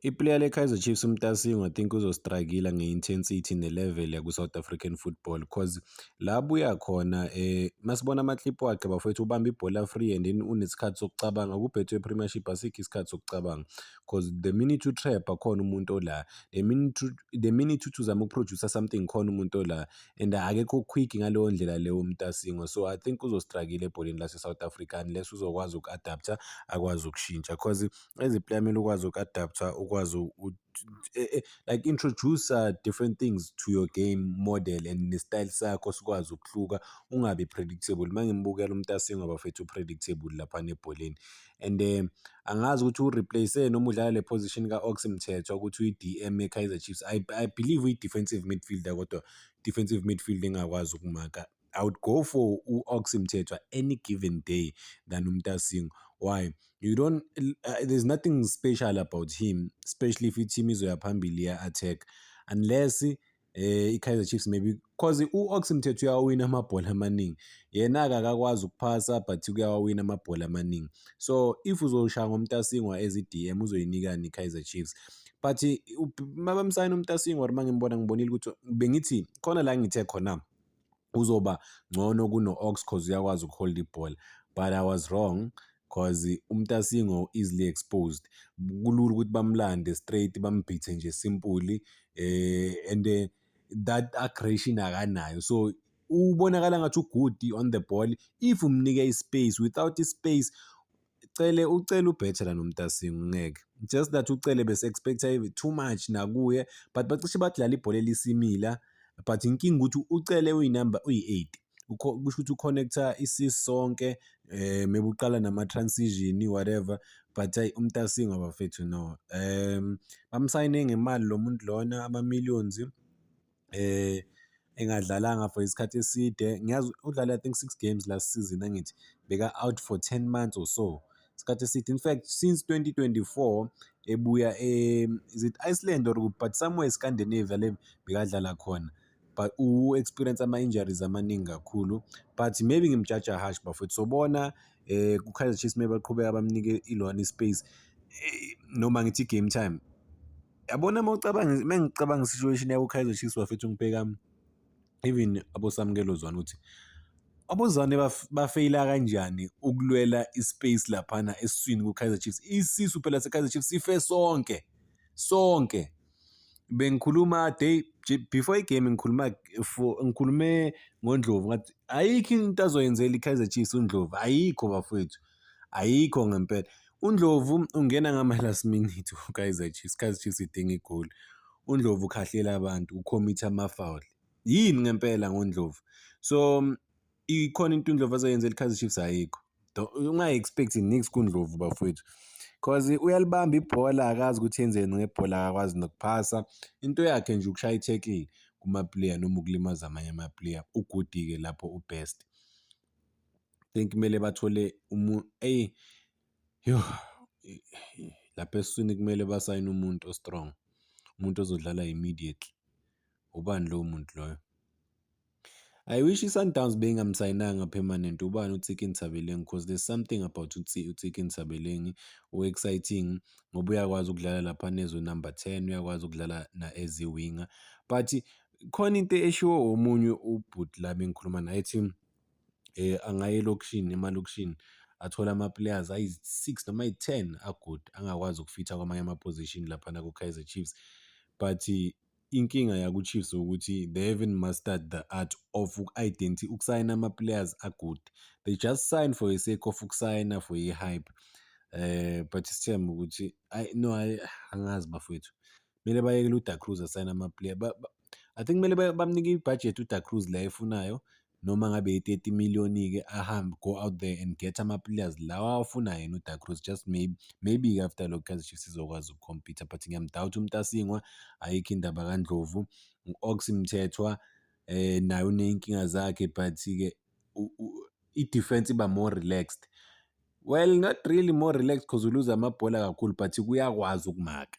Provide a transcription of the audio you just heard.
Iplayer leKaizer Chiefs uMtasingwa I think uzostruggle nge-intensity ne-level yaku-South African football cause la abuya khona eh masibona ama-clip wakhe bafowethu ubamba ibhola free and then unesikhathi sokucabanga kubhethwe premiership asikho isikhathi sokucabanga cause the minute you trap akhona umuntu ola the minute the minute uthi uzama ukuproducer something khona umuntu ola and akekho quick ngaleyo ndlela leyo uMtasingwa so I think uzostruggle ebholeni lase-South Africa unless uzokwazi uku-adapter akwazi ukushintsha cause as a player kumele ukwazi uku-adaptha ukwazi eh, eh, like introduce uh, different things to your game model and ne-style sakho sikwazi ukuhluka ungabi predictable uma ngimbukela umtasingwa bafethu u-predictable laphana ebholeni and um angazi ukuthi ureplace noma udlala le position ka-ox mthethwa ukuthi uyi-dm ye-kaizer chiefs i, I believe uyi-defensive midfielder kodwa defensive midfield engakwazi ukumaka I would go for u-Ox Mthethwa any given day than uMtasingo. Why? You don't uh, there's nothing special about him, especially if i-team izoya phambili ya-attack unless eh i-Kaizer Chiefs maybe cause u-Ox Mthethwa uyawawina amabhola amaningi. Yena-ke akakwazi ukuphasa but kuyawawina amabhola amaningi. So if uzoshaya ngoMtasingwa as i-DM uzoyinikani i-Kaizer Chiefs? But mabamsayina uMtasingwa or mangimbona ngibonile ukuthi bengithi khona la ngithe khona uzoba ngcono kuno-ox cause uyakwazi ukuholda ibhola but i was wrong cause umtasingo easily exposed kulula ukuthi bamlande straight bambhithe nje simply eh and eh, that aggression akanayo so ubonakala ngathi ugudi on the ball if umnike ispace without ispace Cele ucele ubetter than umtasingu ngeke just that ucele bese expecta too much nakuye but bacishe bathi lala ibhola elisimila but inkinga ukuthi ucele uyinumber uyi-8 kusho ukuthi uconnecta isis sonke um mebuqala nama-transition whatever but ayi umtasingo bafethu no um bamsayine ngemali lo muntu lona ama-millions eh engadlalanga for isikhathi eside ngiyazi udlale i think six games last season angithi beka out for 10 months or so isikhathi eside in fact since 2024 ebuya e is it Iceland or but somewhere Scandinavia le bekadlala khona but u experience ama injuries amaningi kakhulu but maybe ngimjaja harsh bafethu sobona eh ku Kaizer Chiefs maybe baqhubeka bamnike ilona ispace eh, noma ngithi game time yabona uma ucabanga uma ngicabanga situation yabo Kaizer Chiefs bafethu ngibheka even abosamukelo zwana ukuthi abozwane bafeyila kanjani ukulwela ispace laphana esiswini kuKaizer Chiefs isisu phela seKaizer Chiefs sife sonke sonke bengikhuluma day before igame ngikhuluma ngikhulume ngoNdlovu ngathi ayikho into azoyenzela iKaizer Chiefs uNdlovu ayikho bafethu Ayikho ngempela. UNdlovu ungena ngama-last minute uKaizer Chiefs, iKaizer Chiefs idinga igoli. UNdlovu ukhahlela abantu, ukhomitha amafawuli. Yini ngempela ngoNdlovu? So ikhona into uNdlovu azoyenza eliKaizer Chiefs ayikho. Ungayi-expect nix kuNdlovu bafowethu. Cause uyalibamba ibhola akazi ukuthi yenzeni ngebhola akakwazi nokuphasa. Into yakhe nje ukushaya i-tackle kuma-player noma ukulimaza amanye ama-player. Ugudi-ke lapho u-best. think kumele bathole umuntu eyi yho lapha eswini kumele basayine umuntu o-strong umuntu ozodlala immediately ubani lowo muntu loyo I wish i-Sundowns beyingamsayinanga permanent ubani uTsiki Nthabeleng cause there's something about uTsiki Nthabeleng o-exciting ngoba uyakwazi ukudlala lapha nezwe number ten uyakwazi ukudlala na-as i-winger but khona into eshiwo omunye ubhuti lami engikhuluma naye ethi angaya elokishini emalokishini athole ama-players ayi-six noma ayi-ten a-good angakwazi ukufitha kwamanye ama-position laphana ku-Kaizer Chiefs but inkinga yaku-Chiefs ukuthi they haven't mastered the art of uku-identi ukusayina ama-players a-good they just sign for the sake of ukusayina for i-hype um but sithembe ukuthi ayi no angazi bafowethu Kumele bayekele uDa Cruz asayine amaplayer. I think kumele bamnike ibhajethi uDa Cruz la efunayo noma ngabe yi-30 million-ke ahambe go out there and get ama-players lawa awafunayo yena uDa Cruz just maybe maybe-ke after lokho Kaizer Chiefs izokwazi ukukhompitha but ngiyamdawutha uMtasingwa ayikho indaba kaNdlovu u-Ox Mthethwa eh naye uney'nkinga zakhe but-ke i-defense iba more relaxed Well, not really more relaxed because uluza amabhola kakhulu but kuyakwazi ukumaka.